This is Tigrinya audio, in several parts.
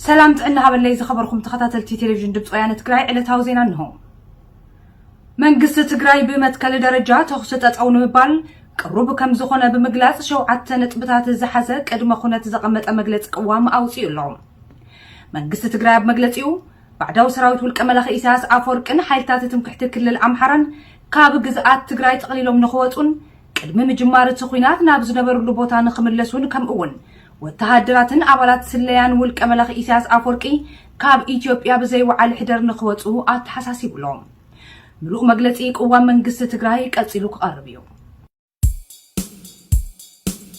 ሰላም ጥዕና ሃበለይ ዝኸበርኩም ተኸታተልቲ ቴሌቪዥን ድምፂ ወያነ ትግራይ ዕለታዊ ዜና እንሆ። መንግስቲ ትግራይ ብመትከል ደረጃ ተኹሲ ጠጠው ንምባል ቅሩብ ከም ዝኾነ ብምግላፅ ሸውዓተ ነጥብታት ዝሓዘ ቅድመ ኩነት ዘቐመጠ መግለፂ ቅዋም ኣውፂኡ ኣሎ። መንግስቲ ትግራይ ኣብ መግለፂኡ ባዕዳዊ ሰራዊት ውልቀ መላኺ ኢሳያስ ኣፈወርቅን ሓይልታት ትምክሕቲ ክልል ኣምሓራን ካብ ግዝኣት ትግራይ ጠቕሊሎም ንኽወፁን ቅድሚ ምጅማር እቲ ኹናት ናብ ዝነበርሉ ቦታ ንክምለሱን ከምኡውን ወተሃደራትን ኣባላት ስለያን ውልቀ መላኺ ኢሳያስ ኣፍወርቂ ካብ ኢትዮጵያ ብዘይወዓል ሕደር ንክወፁ ኣተሓሳሲቡ ኣሎ። ምሉእ መግለፂ ቅዋም መንግስቲ ትግራይ ቀፂሉ ክቐርብ እዩ።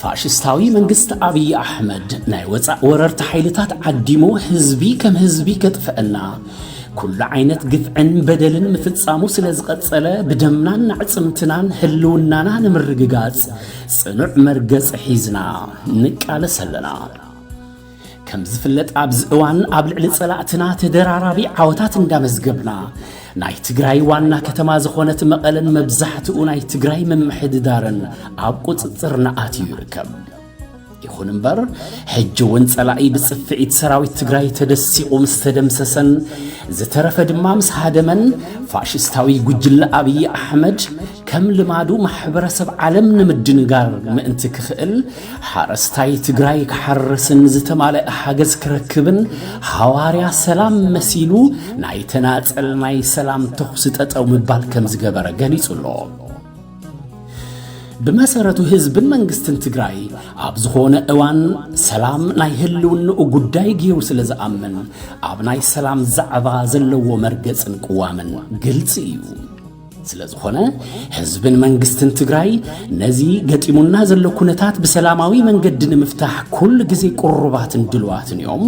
ፋሽስታዊ መንግስቲ ኣብዪ ኣሕመድ ናይ ወፃእ ወረርቲ ሓይልታት ዓዲሙ ህዝቢ ከም ህዝቢ ከጥፍአና ኩሉ ዓይነት ግፍዕን በደልን ምፍጻሙ ስለ ዝቐጸለ ብደምናን ኣዕጽምትናን ህልውናና ንምርግጋጽ ጽኑዕ መርገጽ ሒዝና ንቃለስ ኣለና። ከም ዝፍለጥ ኣብዚ እዋን ኣብ ልዕሊ ጸላእትና ተደራራቢ ዓወታት እንዳመዝገብና ናይ ትግራይ ዋና ከተማ ዝኾነት መቐለን መብዛሕትኡ ናይ ትግራይ ምምሕድዳርን ኣብ ቁጽጽርና ኣትዩ ይርከብ። ይኹን እምበር ሕጂ እውን ጸላኢ ብጽፍዒት ሰራዊት ትግራይ ተደሲቑ ምስ ተደምሰሰን ዝተረፈ ድማ ምስ ሃደመን ፋሽስታዊ ጉጅለ ኣብዪ ኣሕመድ ከም ልማዱ ማሕበረሰብ ዓለም ንምድንጋር ምእንቲ ክኽእል ሓረስታይ ትግራይ ክሓርስን ዝተማለአ ሓገዝ ክረክብን ሃዋርያ ሰላም መሲሉ ናይ ተናፀል ናይ ሰላም ተኹሲ ጠጠው ምባል ከም ዝገበረ ገሊጹ ኣሎ። ብመሰረቱ ህዝብን መንግስትን ትግራይ ኣብ ዝኾነ እዋን ሰላም ናይ ህልውንኡ ጉዳይ ገይሩ ስለ ዝኣምን ኣብ ናይ ሰላም ዛዕባ ዘለዎ መርገጽን ቅዋምን ግልፂ እዩ። ስለዝኾነ ህዝብን መንግስትን ትግራይ ነዚ ገጢሙና ዘሎ ኩነታት ብሰላማዊ መንገዲ ንምፍታሕ ኩሉ ግዜ ቅሩባትን ድልዋትን እዮም።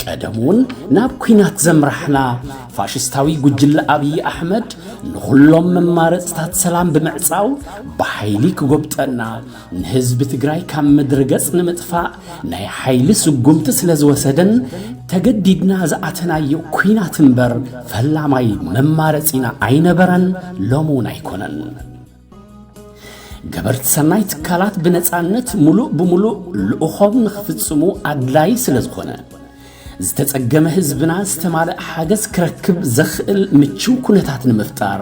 ቀደም እውን ናብ ኩናት ዘምራሕና ፋሽስታዊ ጉጅለ ኣብዪ ኣሕመድ ንኹሎም መማረፅታት ሰላም ብምዕፃው ብሓይሊ ክጎብጠና ንህዝቢ ትግራይ ካብ ምድሪ ገጽ ንምጥፋእ ናይ ሓይሊ ስጉምቲ ስለ ዝወሰደን ተገዲድና ዝኣተናዮ ኲናት እምበር ፈላማይ መማረጺና ኣይነበረን፣ ሎሚ እውን ኣይኮነን። ገበርቲ ሰናይ ትካላት ብነፃነት ሙሉእ ብሙሉእ ልእኾም ንኽፍፅሙ ኣድላዪ ስለ ዝኾነ ዝተጸገመ ህዝብና ዝተማልእ ሓገዝ ክረክብ ዘኽእል ምችው ኩነታት ንምፍጣር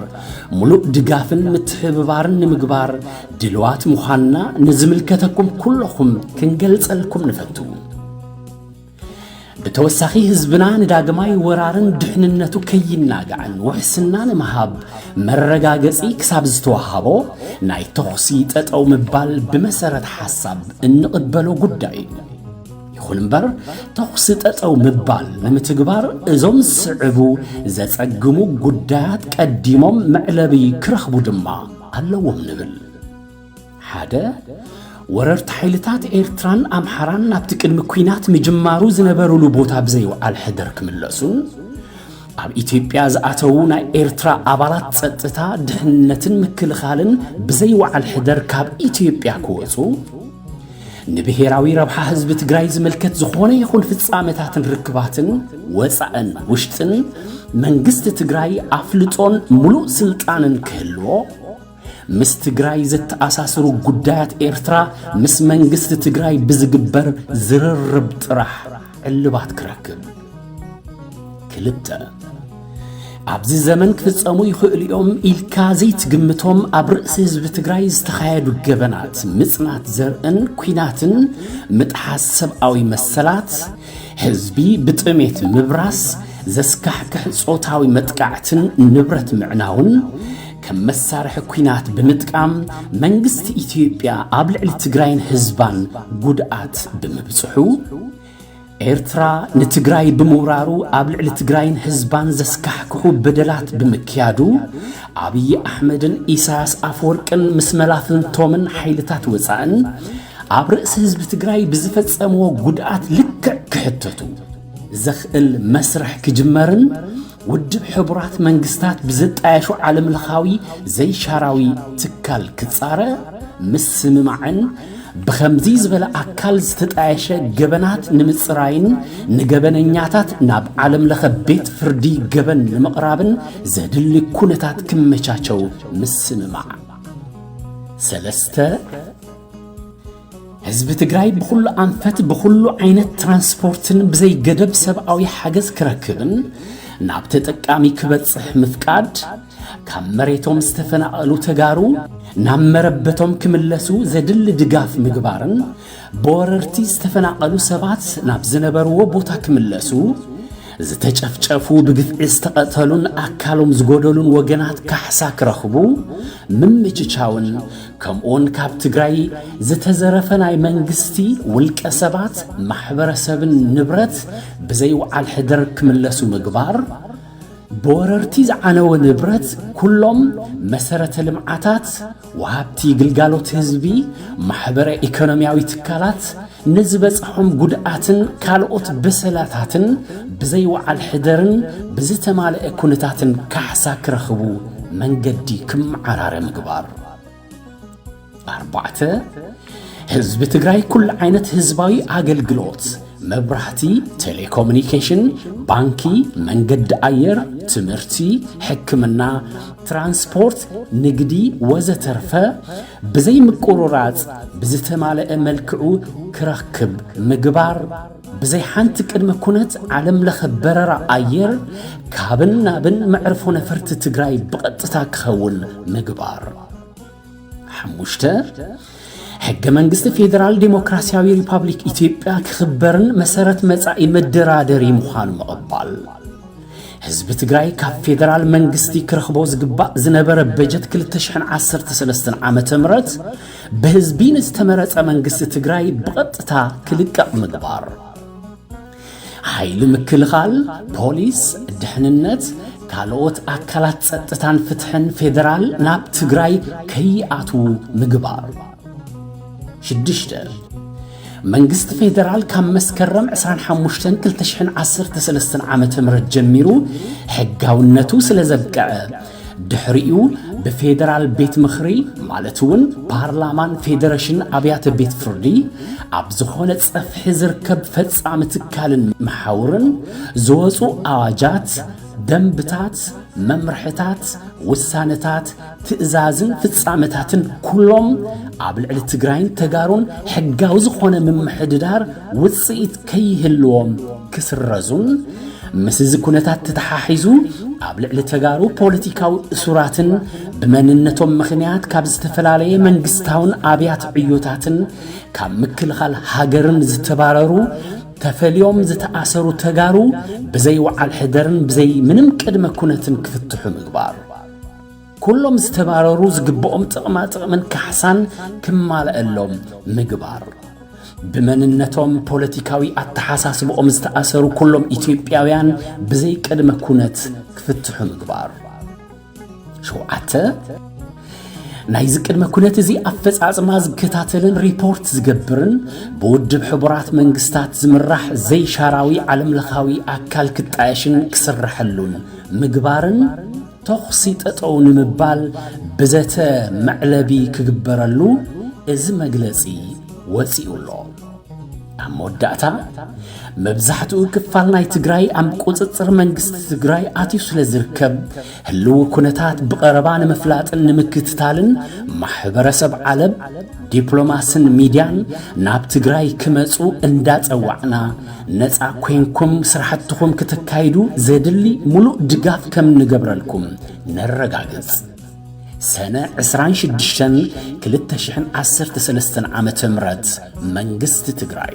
ሙሉእ ድጋፍን ምትሕብባርን ንምግባር ድልዋት ምዃንና ንዝምልከተኩም ኩለኹም ክንገልጸልኩም ንፈቱ። ብተወሳኺ ህዝብና ንዳግማይ ወራርን ድሕንነቱ ከይናጋዕን ውሕስና ንምሃብ መረጋገጺ ክሳብ ዝተዋሃቦ ናይ ተኹሲ ጠጠው ምባል ብመሰረት ሓሳብ እንቕበሎ ጉዳይ እዩ። ይኹን እምበር ተኹሲ ጠጠው ምባል ንምትግባር እዞም ዝስዕቡ ዘጸግሙ ጉዳያት ቀዲሞም መዕለቢ ክረኽቡ ድማ ኣለዎም ንብል ሓደ ወረርቲ ሓይልታት ኤርትራን ኣምሓራን ናብቲ ቅድሚ ኲናት ምጅማሩ ዝነበሩሉ ቦታ ብዘይውዓል ሕደር ክምለሱን ኣብ ኢትዮጵያ ዝኣተዉ ናይ ኤርትራ ኣባላት ጸጥታ ድሕነትን ምክልኻልን ብዘይውዓል ሕደር ካብ ኢትዮጵያ ክወጹ ንብሄራዊ ረብሓ ህዝቢ ትግራይ ዝምልከት ዝኾነ ይኹን ፍፃመታትን ርክባትን ወፃእን ውሽጥን መንግስቲ ትግራይ ኣፍልጦን ሙሉእ ስልጣንን ክህልዎ፣ ምስ ትግራይ ዘተኣሳስሩ ጉዳያት ኤርትራ ምስ መንግስቲ ትግራይ ብዝግበር ዝርርብ ጥራሕ እልባት ክረክብ ክልተ ኣብዚ ዘመን ክፍጸሙ ይኽእሉ እዮም ኢልካ ዘይትግምቶም ኣብ ርእሲ ህዝቢ ትግራይ ዝተኻየዱ ገበናት ምጽናት ዘርእን ኲናትን ምጥሓስ ሰብኣዊ መሰላት ህዝቢ ብጥሜት ምብራስ ዘስካሕክሕ ጾታዊ መጥቃዕትን ንብረት ምዕናውን ከም መሳርሒ ኲናት ብምጥቃም መንግስቲ ኢትዮጵያ ኣብ ልዕሊ ትግራይን ህዝባን ጉድኣት ብምብጽሑ ኤርትራ ንትግራይ ብምውራሩ ኣብ ልዕሊ ትግራይን ህዝባን ዘስካሕክሑ በደላት ብምክያዱ ኣብዪ ኣሕመድን ኢሳያስ ኣፈወርቅን ምስ መላፍንቶምን ሓይልታት ወፃእን ኣብ ርእሲ ህዝቢ ትግራይ ብዝፈጸምዎ ጉድኣት ልክዕ ክሕተቱ ዘኽእል መስርሕ ክጅመርን ውድብ ሕቡራት መንግስታት ብዘጣየሾ ዓለምለኻዊ ዘይሻራዊ ትካል ክጻረ ምስምማዕን ብኸምዚ ዝበለ ኣካል ዝተጣየሸ ገበናት ንምጽራይን ንገበነኛታት ናብ ዓለምለኸ ቤት ፍርዲ ገበን ንምቕራብን ዘድሊ ኩነታት ክመቻቸው ምስምማዕ ሰለስተ ህዝቢ ትግራይ ብኹሉ ኣንፈት ብኹሉ ዓይነት ትራንስፖርትን ብዘይገደብ ሰብኣዊ ሓገዝ ክረክብን ናብ ተጠቃሚ ክበጽሕ ምፍቃድ ካብ መሬቶም ዝተፈናቐሉ ተጋሩ ናብ መረበቶም ክምለሱ ዘድሊ ድጋፍ ምግባርን ብወረርቲ ዝተፈናቐሉ ሰባት ናብ ዝነበርዎ ቦታ ክምለሱ ዝተጨፍጨፉ ብግፍዒ ዝተቐተሉን ኣካሎም ዝጎደሉን ወገናት ካሕሳ ክረኽቡ ምምችቻውን ከምኡውን ካብ ትግራይ ዝተዘረፈ ናይ መንግስቲ፣ ውልቀ ሰባት፣ ማሕበረሰብን ንብረት ብዘይ ውዓል ሕደር ክምለሱ ምግባር፣ ብወረርቲ ዝዓነወ ንብረት ኩሎም መሰረተ ልምዓታት፣ ወሃብቲ ግልጋሎት ህዝቢ፣ ማሕበረ ኢኮኖሚያዊ ትካላት፣ ንዝበፅሖም ጉድኣትን ካልኦት በሰላታትን ብዘይ ወዓል ሕደርን ብዝተማለኤ ኩነታትን ካሕሳ ክረኽቡ መንገዲ ክመዓራረ ምግባር። ኣርባዕተ፣ ህዝቢ ትግራይ ኩሉ ዓይነት ህዝባዊ ኣገልግሎት፣ መብራህቲ፣ ቴሌኮሙኒኬሽን፣ ባንኪ፣ መንገዲ ኣየር፣ ትምህርቲ፣ ሕክምና፣ ትራንስፖርት፣ ንግዲ ወዘተርፈ ብዘይ ምቁርራጽ ብዝተማለኣ መልክዑ ክረክብ ምግባር፣ ብዘይ ሓንቲ ቅድመ ኩነት ዓለም ለኸ በረራ ኣየር ካብን ናብን መዕርፎ ነፈርቲ ትግራይ ብቐጥታ ክኸውን ምግባር። ሓሙሽተ፣ ሕገ መንግስቲ ፌዴራል ዴሞክራሲያዊ ሪፓብሊክ ኢትዮጵያ ክኽበርን መሰረት መጻኢ መደራደሪ ምዃኑ ምቕባል። ህዝቢ ትግራይ ካብ ፌደራል መንግስቲ ክረኽቦ ዝግባእ ዝነበረ በጀት 2013 ዓ ም ብህዝቢ ንዝተመረፀ መንግስቲ ትግራይ ብቐጥታ ክልቀቕ ምግባር ሓይሊ ምክልኻል፣ ፖሊስ፣ ድሕንነት፣ ካልኦት ኣካላት ጸጥታን ፍትሕን ፌደራል ናብ ትግራይ ከይኣትዉ ምግባር። ሽዱሽተ መንግስቲ ፌደራል ካብ መስከረም ዕስራን ሓሙሽተን ክልተ ሽሕን ዓሰርተ ሰለስተን ዓመተ ምህረት ጀሚሩ ሕጋውነቱ ስለ ዘብቅዐ ድሕሪኡ ብፌደራል ቤት ምኽሪ ማለት እውን ፓርላማን ፌደሬሽን ኣብያተ ቤት ፍርዲ ኣብ ዝኾነ ጸፍሒ ዝርከብ ፈጻሚ ትካልን መሓውርን ዝወፁ ኣዋጃት፣ ደንብታት፣ መምርሕታት፣ ውሳነታት፣ ትእዛዝን ፍፃመታትን ኩሎም ኣብ ልዕሊ ትግራይን ተጋሩን ሕጋዊ ዝኾነ ምምሕድዳር ውፅኢት ከይህልዎም ክስረዙን ምስ እዚ ኩነታት ተተሓሒዙ ኣብ ልዕሊ ተጋሩ ፖለቲካዊ እሱራትን ብመንነቶም ምኽንያት ካብ ዝተፈላለየ መንግስታውን ኣብያት ዕዮታትን ካብ ምክልኻል ሃገርን ዝተባረሩ ተፈልዮም ዝተኣሰሩ ተጋሩ ብዘይ ወዓል ሕደርን ብዘይ ምንም ቅድመ ኩነትን ክፍትሑ ምግባር ኩሎም ዝተባረሩ ዝግብኦም ጥቕማ ጥቕምን ካሕሳን ክማልኣሎም ምግባር። ብመንነቶም ፖለቲካዊ ኣተሓሳስብኦም ዝተኣሰሩ ኩሎም ኢትዮጵያውያን ብዘይ ቅድመ ኩነት ክፍትሑ ምግባር። ሸውዓተ ናይዚ ቅድመ ኩነት እዚ ኣፈጻጽማ ዝከታተልን ሪፖርት ዝገብርን ብውድብ ሕቡራት መንግስታት ዝምራሕ ዘይሻራዊ ዓለምለኻዊ ኣካል ክጣየሽን ክስረሐሉን ምግባርን ተኹሲ ጠጠው ንምባል ብዘተ መዕለቢ ክግበረሉ እዚ መግለጺ ወጺኡ'ሎ። ኣብ መወዳእታ፣ መብዛሕትኡ ክፋል ናይ ትግራይ ኣብ ቁጽጽር መንግስቲ ትግራይ ኣትዩ ስለ ዝርከብ፣ ህልዊ ኩነታት ብቐረባ ንምፍላጥን ንምክትታልን ማሕበረሰብ ዓለም ዲፕሎማስን ሚድያን ናብ ትግራይ ክመፁ እንዳፀዋዕና ነፃ ኮይንኩም ስራሕትኹም ክተካይዱ ዘድሊ ሙሉእ ድጋፍ ከምንገብረልኩም ነረጋግፅ። ሰነ ዕስራን ሽዱሽተን ክልተ ሽሕን ዓሰርተ ሰለስተን ዓመተ ምህረት መንግስቲ ትግራይ።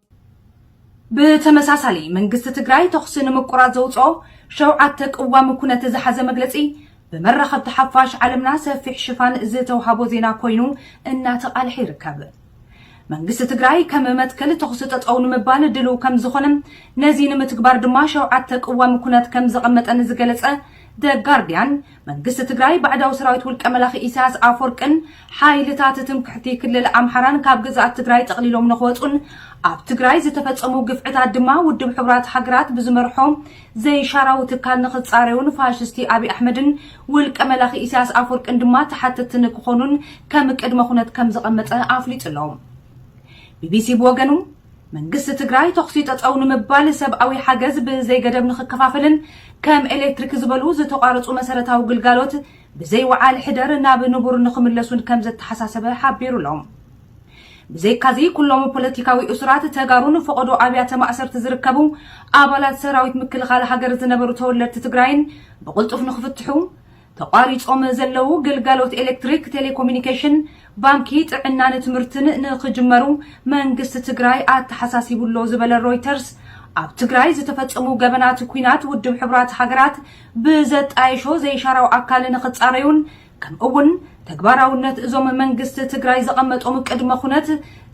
ብተመሳሳሊ መንግስቲ ትግራይ ተኹሲ ንምቁራፅ ዘውፅኦ ሸውዓተ ቅዋም ኩነት ዝሓዘ መግለፂ ብመራኸብቲ ሓፋሽ ዓለምና ሰፊሕ ሽፋን ዝተውሃቦ ዜና ኮይኑ እናተቓልሐ ይርከብ። መንግስቲ ትግራይ ከም መትከል ተኹሲ ጠጠው ንምባል ድልው ከም ዝኾነን ነዚ ንምትግባር ድማ ሸውዓተ ቅዋም ኩነት ከም ዘቐመጠን ዝገለፀ ደ ጋርዲያን መንግስቲ ትግራይ ባዕዳዊ ሰራዊት ውልቀ መላኺ ኢሳያስ ኣፎርቅን ሓይልታት ትምክሕቲ ክልል ኣምሓራን ካብ ግዝኣት ትግራይ ጠቕሊሎም ንክወፁን ኣብ ትግራይ ዝተፈፀሙ ግፍዕታት ድማ ውድብ ሕቡራት ሃገራት ብዝመርሖ ዘይሻራዊ ትካል ንክፃረዩን ፋሽስቲ ኣብዪ ኣሕመድን ውልቀ መላኺ ኢሳያስ ኣፎርቅን ድማ ተሓተትቲ ንክኾኑን ከም ቅድመ ኩነት ከም ዘቐመጠ ኣፍሊጡ ኣሎ። ቢቢሲ ብወገኑ መንግስቲ ትግራይ ተኹሲ ጠጠው ንምባል፣ ሰብኣዊ ሓገዝ ብዘይገደብ ንኽከፋፈልን ከም ኤሌክትሪክ ዝበሉ ዝተቋረፁ መሰረታዊ ግልጋሎት ብዘይ ውዓል ሕደር ናብ ንቡር ንኽምለሱን ከምዘተሓሳሰበ ሓቢሩ'ሎ። ብዘይካ'ዚ ኩሎም ፖለቲካዊ እሱራት ተጋሩን ፈቐዶ ኣብያተ ማእሰርቲ ዝርከቡ ኣባላት ሰራዊት ምክልኻል ሃገር ዝነበሩ ተወለድቲ ትግራይን ብቕልጡፍ ንኽፍትሑ ተቋሪጾም ዘለዉ ግልጋሎት ኤሌክትሪክ፣ ቴሌኮሚኒኬሽን፣ ባንኪ፣ ጥዕናን ትምህርትን ንኽጅመሩ መንግስቲ ትግራይ ኣተሓሳሲቡ'ሎ ዝበለ ሮይተርስ፣ ኣብ ትግራይ ዝተፈጸሙ ገበናት ኲናት ውድብ ሕቡራት ሃገራት ብዘጣየሾ ዘይሻራዊ ኣካል ንኽጻረዩን ከምኡ'ውን ተግባራውነት እዞም መንግስቲ ትግራይ ዘቐመጦም ቅድመ ኩነት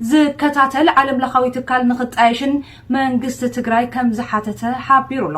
ዝከታተል ዓለምለኻዊ ትካል ንኽጣየሽን መንግስቲ ትግራይ ከምዝሓተተ ሓቢሩ'ሎ።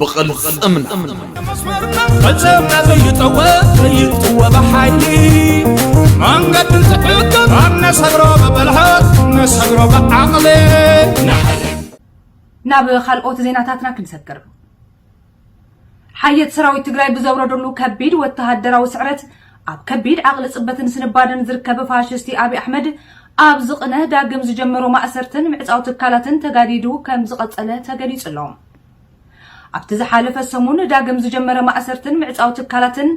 ብቕልፅምና ፈፀምና ዘይጠወ ዘይጥወ ብሓይሊ መንገዲ ዝሕግም ኣብ ነሰግሮ ብብልሃት ነሰግሮ ብዓቕሊ ናብ ካልኦት ዜናታትና ክንሰግር ሓየት ሰራዊት ትግራይ ብዘውረደሉ ከቢድ ወተሃደራዊ ስዕረት ኣብ ከቢድ ዓቕሊ ፅበትን ስንባደን ዝርከብ ፋሽስቲ ኣብዪ ኣሕመድ ኣብ ዝቕነ ዳግም ዝጀመሮ ማእሰርትን ምዕፃው ትካላትን ተጋዲዱ ከም ዝቐፀለ ተገሊፁ ኣሎ ኣብቲ ዝሓለፈ ሰሙን ዳግም ዝጀመረ ማእሰርትን ምዕጻው ትካላትን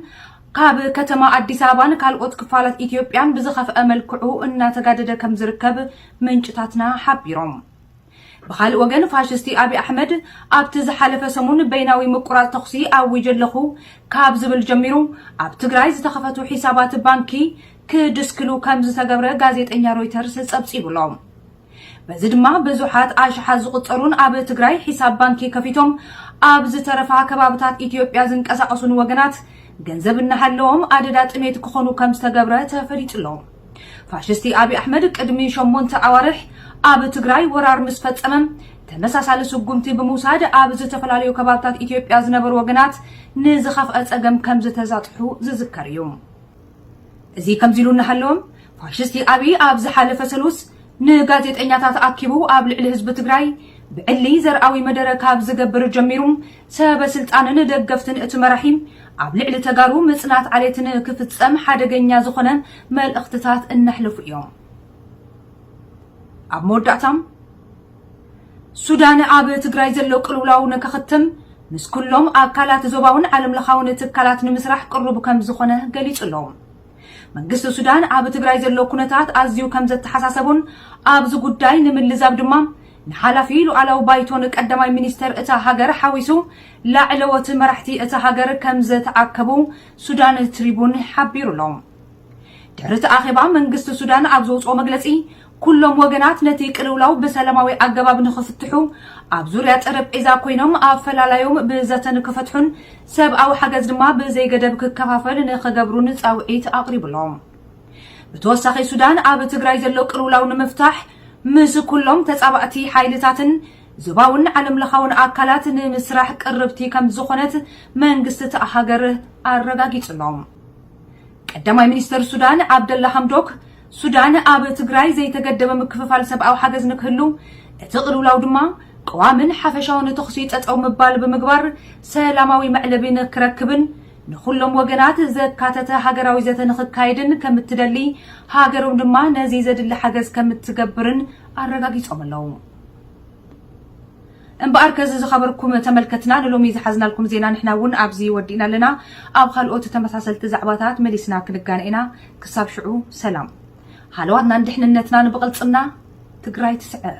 ካብ ከተማ ኣዲስ ኣበባን ካልኦት ክፋላት ኢትዮጵያን ብዝኸፍአ መልክዑ እናተጋደደ ከም ዝርከብ ምንጭታትና ሓቢሮም። ብኻልእ ወገን ፋሽስቲ ኣብይ ኣሕመድ ኣብቲ ዝሓለፈ ሰሙን በይናዊ ምቁራፅ ተኹሲ ኣዊጀ ኣለኹ ካብ ዝብል ጀሚሩ ኣብ ትግራይ ዝተኸፈቱ ሒሳባት ባንኪ ክድስክሉ ከም ዝተገብረ ጋዜጠኛ ሮይተርስ ፀብፂቡሎም። በዚ ድማ ብዙሓት ኣሽሓት ዝቑጸሩን ኣብ ትግራይ ሒሳብ ባንኪ ከፊቶም ኣብ ዝተረፋ ከባብታት ኢትዮጵያ ዝንቀሳቐሱን ወገናት ገንዘብ እናሃለዎም ኣደዳ ጥሜት ክኾኑ ከም ዝተገብረ ተፈሊጡ ኣሎ። ፋሽስቲ ኣብይ ኣሕመድ ቅድሚ ሸሞንተ ኣዋርሕ ኣብ ትግራይ ወራር ምስ ፈጸመ ተመሳሳሊ ስጉምቲ ብምውሳድ ኣብ ዝተፈላለዩ ከባብታት ኢትዮጵያ ዝነበሩ ወገናት ንዝኸፍአ ጸገም ከም ዝተዛጥሑ ዝዝከር እዩ። እዚ ከምዚ ኢሉ እናሃለወ ፋሽስቲ ኣብይ ኣብ ዝሓለፈ ሰሉስ ንጋዜጠኛታት ኣኪቡ ኣብ ልዕሊ ህዝቢ ትግራይ ብዕሊ ዘርኣዊ መደረ ካብ ዝገብር ጀሚሩ ሰበ ስልጣንን ደገፍትን እቲ መራሒ ኣብ ልዕሊ ተጋሩ ምፅናት ዓሌት ንክፍፀም ሓደገኛ ዝኾነ መልእኽትታት እነሕልፉ እዮም። ኣብ መወዳእታ ሱዳን ኣብ ትግራይ ዘሎ ቅልውላው ንከኽትም ምስ ኩሎም ኣካላት ዞባውን ዓለም ለኻውን ትካላት ንምስራሕ ቅሩብ ከም ዝኾነ ገሊጹ ኣሎ። መንግስቲ ሱዳን ኣብ ትግራይ ዘሎ ኩነታት ኣዝዩ ከም ዘተሓሳሰቦን ኣብዚ ጉዳይ ንምልዛብ ድማ ንሓላፊ ሉዓላዊ ባይቶን ቀዳማይ ሚኒስተር እታ ሃገር ሓዊሱ ላዕለዎት መራሕቲ እታ ሃገር ከም ዘተኣከቡ ሱዳን ትሪቡን ሓቢሩ ኣሎ። ድሕሪ እቲ ኣኼባ መንግስቲ ሱዳን ኣብ ዘውጽኦ መግለጺ ኩሎም ወገናት ነቲ ቅልውላው ብሰላማዊ ኣገባብ ንኽፍትሑ፣ ኣብ ዙርያ ጠረጴዛ ኮይኖም ኣፈላላዮም ብዘተ ንክፈትሑን ሰብኣዊ ሓገዝ ድማ ብዘይገደብ ክከፋፈል ንኽገብሩን ጻውዒት ኣቕሪቡ'ሎ። ብተወሳኺ ሱዳን ኣብ ትግራይ ዘሎ ቅልውላው ንምፍታሕ ምስ ኩሎም ተጻባእቲ ሓይልታትን ዞባውን ዓለምለኻውን ኣካላት ንምስራሕ ቅርብቲ ከምዝኾነት መንግስቲ'ታ ሃገር ኣረጋጊጹ'ሎ። ቀዳማይ ሚኒስተር ሱዳን ዓብደላ ሃምዶክ፣ ሱዳን ኣብ ትግራይ ዘይተገደበ ምክፍፋል ሰብኣዊ ሓገዝ ንክህሉ፣ እቲ ቅልውላው ድማ ቀዋሚን ሓፈሻውን ተኹሲ ጠጠው ምባል ብምግባር ሰላማዊ መዕለቢ ንክረክብን ንኹሎም ወገናት ዘካተተ ሃገራዊ ዘተ ንክካየድን ከምትደሊ ሃገሮም ድማ ነዚ ዘድሊ ሓገዝ ከምትገብርን ኣረጋጊፆም ኣለው። እምበኣር ከዚ ዝኸበርኩም ተመልከትና ንሎሚ ዝሓዝናልኩም ዜና ንሕና እውን ኣብዚ ወዲእና ኣለና። ኣብ ኻልኦት ተመሳሰልቲ ዛዕባታት መሊስና ክንጋነ ኢና። ክሳብ ሽዑ ሰላም። ሃለዋትናን ድሕንነትናን ብቕልጽምና! ትግራይ ትስዕር!